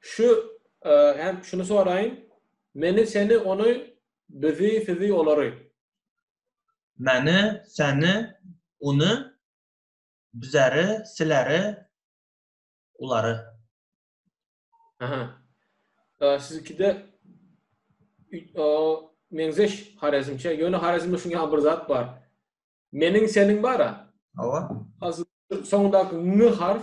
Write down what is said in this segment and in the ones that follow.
Şu hem şuny soraýyn. Meni, seni, ony, bizi, sizi, olary. Meni, seni, uny, bizeri, sileri, ulary. Aha. Sizikide meňzeş Harezmçe. Ýöne Harezmde şuň ýaly bir zat bar. Meniň, seniň bar-a. Hawa. Soňundaky n harf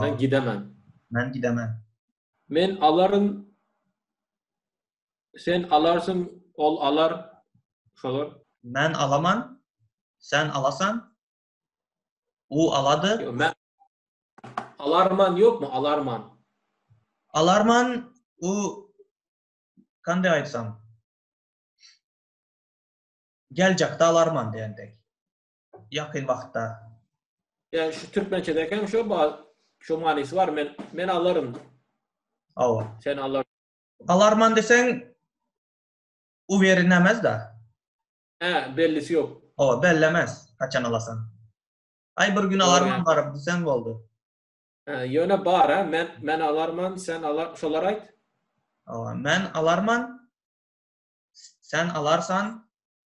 Men gidemen. Men gidemen. Men alaryn. Sen alarsyň, ol alar. Şolar. Men alaman. Sen alasan. U alady. Yo, men alarman ýokmy? Alarman. Alarman u kande aýtsam. Geljekde alarman diýendek. ýakyn wagtda. Ýa şu türkmençe dekem şu bar. Şu manysy bar. Men men alaryn. Hawa. Sen alar. Alarman deseň uweri nämäz da. Hä, bellisi ýok. Hawa, bellemez. Haçan alasan. Aý bir gün alarman baryp diseň boldy. Hä, ýöne bar, hä, men men alarman, sen alar, şolar aýt. Hawa, men alarman. Sen alarsan.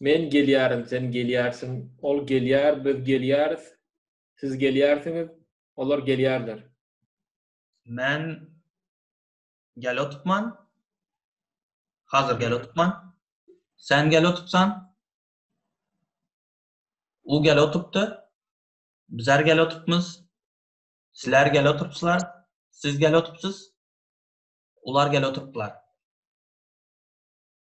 Men gelýärin, sen gelýärsiň, ol gelýär, biz gelýäris, siz gelýärsiňiz, olar gelýärler. Men gel otupman, hazir gel otupman, sen gel otupsan, u gel otupdy, bizler gel otupmyz, sizler gel otupslar, siz gel otupsyz, olar gel otuplar.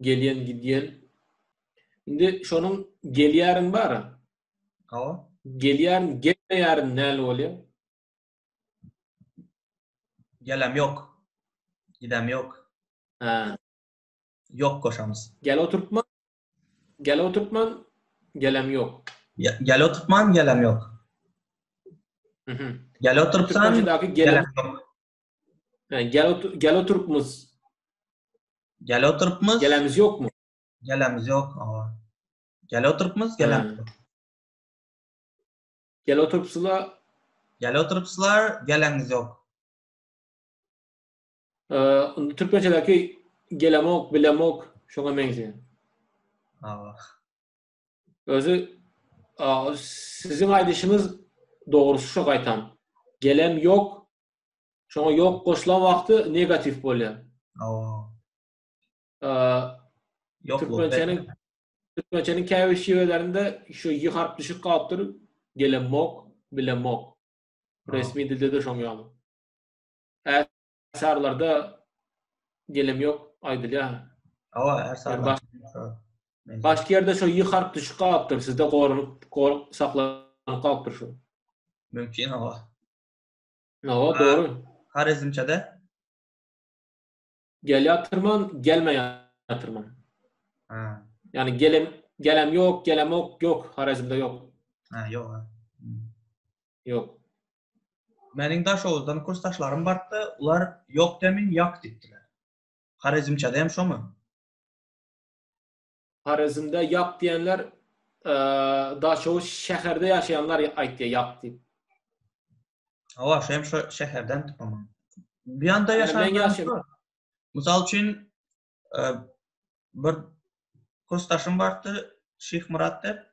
Gelýän gidýän. Indi şonuň gelýärin bar. Hawa. Gelýärin, gelmeýärin näle bolýar? Geläm ýok. Gidäm ýok. Ha. Ýok goşamyz. Gel oturtma. Gel oturtman, geläm ýok. Gel oturtman, geläm ýok. Mhm. Gel oturtsan, geläm ýok. Yani gel, otur, gel oturup muz. Gel oturup muz. Gelemiz yok mu? Gelemiz yok. Aa. Gel oturup muz. Gelemiz yok. Gel oturup sula. Gel oturup sular. Gelemiz yok. Ee, Türkmençedeki gelemok, bilemok. Şuna benziyor. Aa. Özü siziň aýdyşyňyz dogry şu gaýtam. Gelem ýok. Şoňa ýok goşulan wagty negatiw bolýar. Ýok türkmençäniň türkmençäniň käbir şiwelerinde şu ýy harp düşüp galypdyr. Gelem mok, bilem mok. Resmi dilde de şoň ýaly. Sarylarda gelem yok aýdylýar. Hawa, her sarylar. Başka yerde şu y harp düşüp galypdyr. Sizde gorulup, gorup saklanyp galypdyr şu. Mümkin hawa. Hawa, doğru. Harezmçede? Gelýatyrman, gelmeýatyrman. Ha. Yani gelem gelem yok, gelem yok, yok. Harezmde yok. Ha, yok. Yok. Meniň Daşoguzdan kursdaşlarym bardy, olar ýok demin ýok diýipdiler. Horezmçede hem şomy? Horezmde ýok diýenler Daşoguz şäherde ýaşaýanlar aýtýar ýok diýip. Hawa, şu hem şu şäherden tutumy? Bu ýanda ýaşaýan. Mysal üçin bir kursdaşym bardy, Şyhmyrat dep.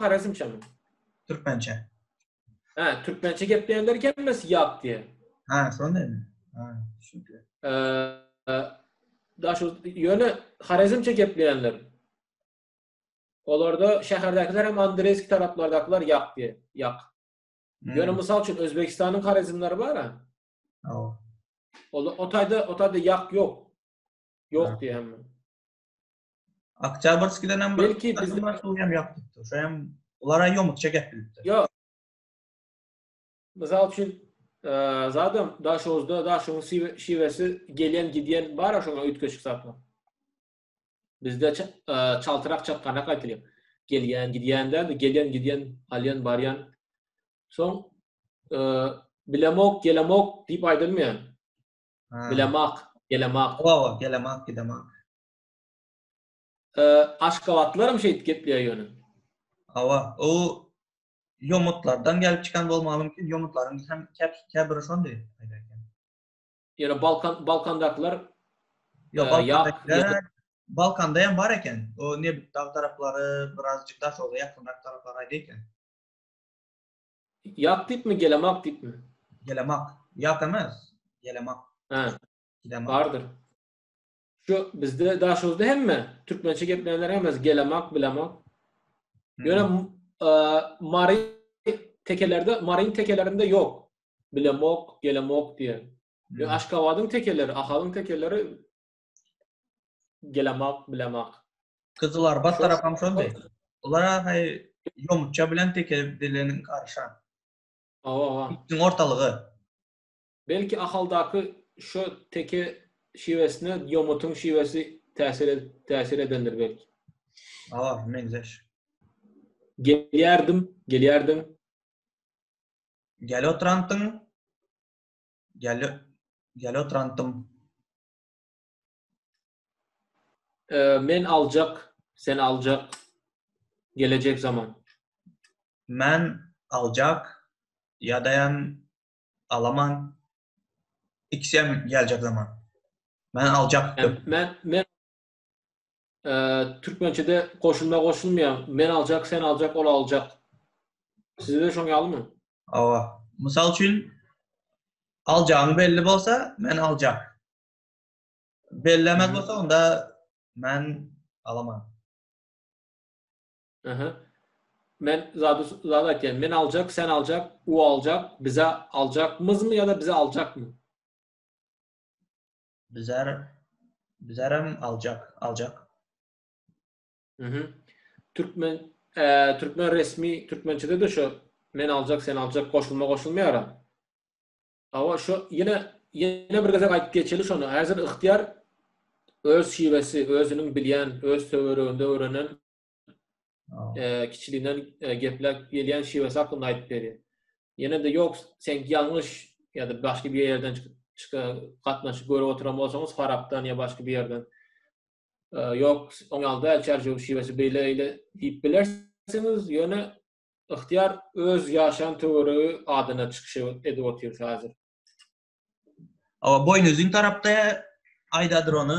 Horezmçemi? Türkmençe. Ha, türkmençe gepleýänler gelmesi ýap diýen. Ha, şonda mi? Ha, şükür. Eee, daşy ýöne Horezmçe gepleýänler. Olarda şäherdäkiler hem Andreýski taraplardakylar ýap diýen. Ýap. Hmm. Ýöne mysal üçin Özbegistanyň Horezmleri bar ha. Aw. Ola o taýda, o taýda ýap ýok. Ýok diýen. Oktýabrskiden hem belki biz hem ýapypdyr. Şu hem olara ýomut çekip bilipdir. Ýok. Mysal üçin, e, zadam Daşoguzda Daşoguň şiwesi gelen gidýän bar şoňa üýtgeşik zatlar. Bizde e, çaltyrak çakganak aýdylýar. Gelýän, gidýände, gelýän, gidýän, alýan, barýan. Soň e, bilemok, gelemok diýip aýdylmaýar. Bilemak, gelemak. Oba, gelemak, gidemak. Aşgabatlylaram şeýdip gepleýär ýöne. Hawa, o ýomutlardan gelip çykan bolmagy mümkin, ýomutlaryň hem käbiri şondy. Ýöne Balkan, Balkandakylar Ýok, Balkanda hem bar eken. O nebit dag taraplary, birazjyk daşogza ýakynrak taraplar aýdy eken. Ýak diýipmi, gelemak diýipmi? Gelemak. Ýak emes. Gelemak. Hä. Gelemak. Bardyr. Şu bizde daşymyzda hemme türkmençe geplänler hemmesi gelemak, bilemak. Ýöne Mary tekelerde, Maryň tekelerinde ýok. Bilemok, gelemok diýen. Ýöne Aşgabadyň tekeleri, Ahalyň tekeleri Gelemok, bilemok. Gyzylarbat tarapam şondy. Olara hay ýomutja bilen tekedeleniň garyşan. Awa, awa. Diň ortalygy. Belki Ahaldaky şo teke şiwesine ýomutyň şiwesi täsir edip, täsir edendir belki. Awa, meňzeş. Gelýärdim, gelýärdim. Gel otrantym. Gel, gel otrantym. Ee, men aljak, sen aljak. Gelecek zaman. Men aljak, yadayan alaman. İkisem gelecek zaman. Men aljaktım. Men, men, Türkmençede goşulma goşulmaýar. Men aljak, sen aljak, ol aljak. Sizde şoň ýalymy? Awa. Mysal üçin, aljagyň belli bolsa, men aljak. Bellemez bolsa, onda men alaman. Aha. Men zady zady aýtýan. Men aljak, sen aljak, u aljak, bize aljakmyzmy ýa-da bize aljakmy? Bizar Bizaram aljak, aljak. Mhm. Türkmen eee türkmen resmi türkmençede de şu men aljak sen aljak goşulma goşulmaýar. Awa şu ýene ýene bir gezek aýdyp geçeli şonu. Häzir ygtyýar öz şiwesi, özüniň bilýän, öz töwereginde öwrenen e, kiçiliginden e, gepläp gelýän şiwesi hakynda aýdyp berýär. Ýene de ýok, sen ýalňyş ýa-da başga bir ýerden çykan gatnaşyk görüp oturan bolsaňyz, Farapdan ýa başga bir ýerden. E, ýok, oň ýalda çärjew şiwesi beýle-beýle diýip bilersiňiz, ýöne ýyhtyýar öz ýaşan töweregi adyna çykyş edip otyr häzir. Awa, boýnuzyn tarapda aýdadyr ony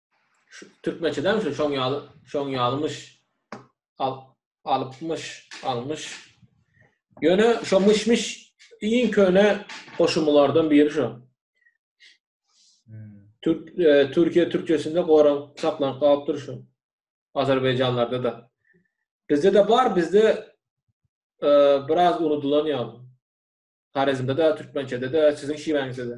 Türkmençeden şu şoň ýaly, şoň ýalymyş. Al, alypmyş, almyş. Ýöne şo myş-myş iň köne goşumlardan biri şo. Türk, e, Türkiýe türkçesinde goran saklanyp galypdyr şu. Azerbaýjanlarda da. Bizde de bar, bizde e, biraz unudylan ýaly. Harezmde de, türkmençede de, siziň şiwäňizde de.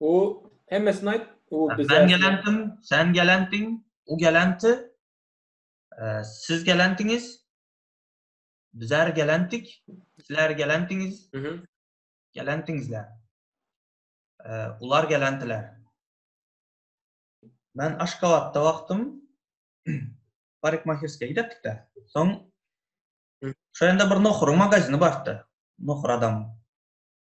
O hemmesini aýt. O biz Ben gelendim, sen gelendiň, o gelendi. Siz gelendiňiz. Bizler gelendik. Sizler gelendiňiz. Mhm. Gelendiňizler. Ular gelendiler. Men Aşgabatda wagtym parikmahirskiýa gidipdik-de. Soň şeýle bir nohuryň magazini bardy. Nohur adam.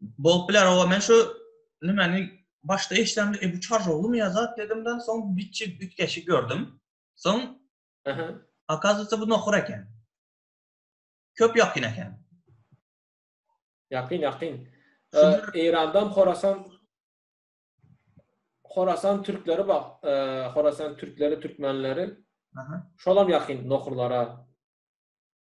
Bolup biler oba men şu nimeni başda eşdämde e bu çarjowly mi yazat dedimden soň biçi bitkeşi gördüm. Soň Aha. Akazatda bu nohur eken. Köp ýakyn eken. Ýakyn ýakyn. Eýrandan Horasan Horasan türkleri bak, Horasan türkleri, türkmenleri. Aha. Şolam ýakyn nohurlara.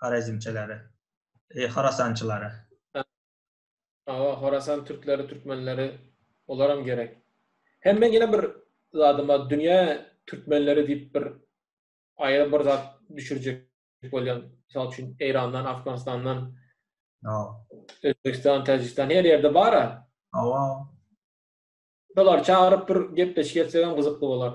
Horezmçilere, Horasançylara. Hawa, Horasan türkleri, türkmenleri, olaram gerek. Hem men ýene bir zadyma dünýä türkmenleri diýip bir aýry bir zat düşürjek bolýan. Mysal üçin Eýrandan, Afganistandan. No. Özbegistan, Täjigistan her ýerde bar-a. Hawa. Şolar çagyryp bir gepleşik etsegem gyzykly bolar.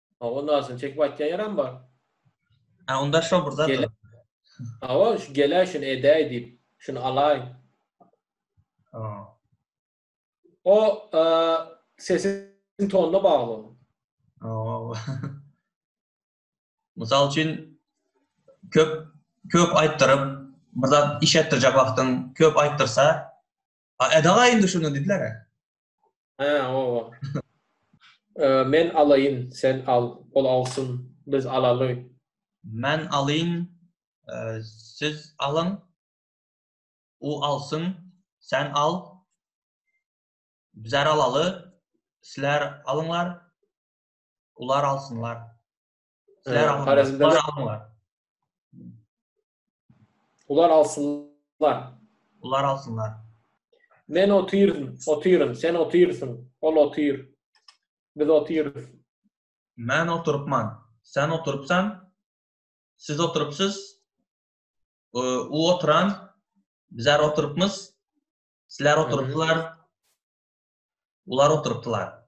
Ha, onda aslyn çekip aýtýan ýeram bar. Ha, onda şo bir zat. Awa, şu gelä şuny edäý diýip, şuny alaý. Ha. O, e, sesiň tonuna bagly. Awa. Mysal üçin köp köp aýtdyryp, bir zat iş etdirjek wagtyň köp aýtdyrsa, A edaga indi şunu didiler-ä. Hä, oba. Men alaýyn, sen al, ol alsyn, biz alaly. Men alyň, siz alyň, u alsyn, sen al, bizar alaly, sizler alyňlar, ular alsynlar. Sizler alyňlar, ular alyňlar. Ular alsynlar. Ular alsynlar. Men otyryn, otyryn, sen otyrsyň, ol otyr. Biz otyrys. Men oturypman, sen oturypsan, siz oturypsyz, u oturan, bizler oturypmyz, sizler oturypdylar, ular oturypdylar.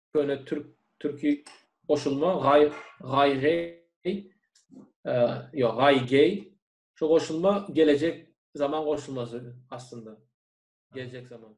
köne türk türki goşulma gay gay gay yo gay gay şu goşulma gelecek zaman goşulmasy aslynda gelecek zaman